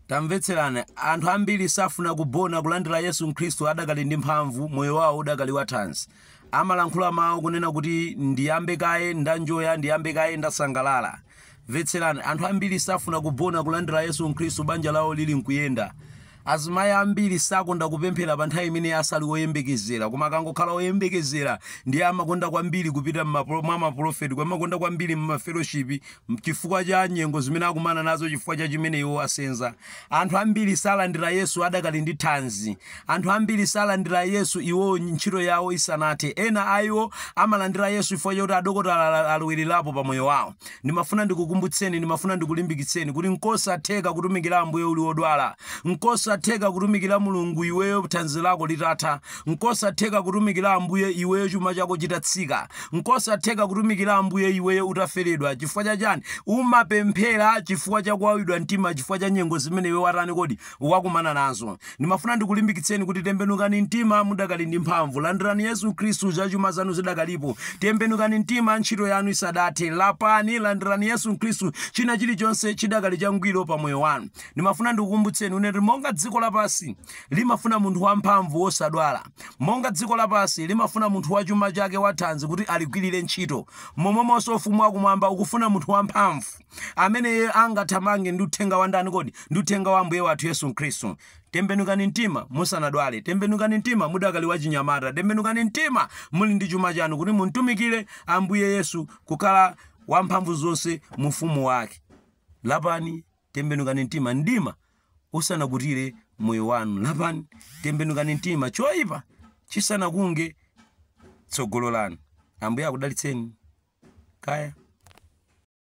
tamvetserani anthu ambiri safuna kubona kulandira yesu khristu adakali ndi mphamvu moyo wawo udakali wathanzi amalankhula mawu kunena kuti ndiyambe kaye ndanjoya ndiyambe kaye ndasangalala mvetserani anthu ambiri safuna kubona kulandira yesu khristu banja lawo lili nkuyenda Azimayi ambiri sakonda kupemphera pa nthawi imene asali oyembekezera, koma akangokhala oyembekezera ndiye amakonda kwambiri kupita mwa mapulofeti, amakonda kwambiri mumafeloshipi chifukwa cha nyengo zimene akumana nazo chifukwa cha chimene iwo asenza. Anthu ambiri salandira Yesu adakali ndi thanzi. Anthu ambiri salandira Yesu iwo ntchito yawo isanathe. Ena a iwo amalandira Yesu chifukwa chakuti adokotala alowererapo pa moyo wawo. Ndimafuna ndikukumbutseni, ndimafuna ndikulimbikitseni kuti nkosatheka kutumikira Ambuye uli odwala. Nkosatheka kutumikira Mulungu iweyo thanzi lako litatha. Nkosatheka kutumikira Ambuye iweyo chuma chako chitatsika. Nkosatheka kutumikira Ambuye iweyo utaferedwa. Chifukwa cha chani? Umapemphera chifukwa cha kuwawidwa mtima chifukwa cha nyengo zimene iwe watani kodi? wakumana nazo. Ndimafuna ndikulimbikitseni kuti tembenukani mtima mudakali ndi mphamvu. Landirani Yesu Khristu, zachuma zanu zidakalipo. Tembenukani mtima ntchito yanu isadathe. Lapani, landirani Yesu Khristu, china chilichonse chidakali changwiro pa moyo wanu. Ndimafuna ndikukumbutseni kunena kuti monga dziko lapansi limafuna munthu wamphamvu wosadwala, monga dziko lapansi limafuna munthu wa chuma chake wathanzi kuti aligwirire ntchito, momwemonso Ufumu wakumwamba ukufuna munthu wamphamvu. amene iye angathamange ndi uthenga wa ndani kodi ndi uthenga wa ambuye wathu yesu khristu tembenukani mtima musanadwale tembenukani mtima mudakali wachinyamata tembenukani mtima muli ndi chuma chanu kuti mumtumikire ambuye yesu kukhala wamphamvu zonse mu ufumu wake lapani tembenukani mtima mdima usanakutire moyo wanu lapani tembenukani mtima choyipa chisanakunge tsogolo lanu ambuye akudalitseni kaya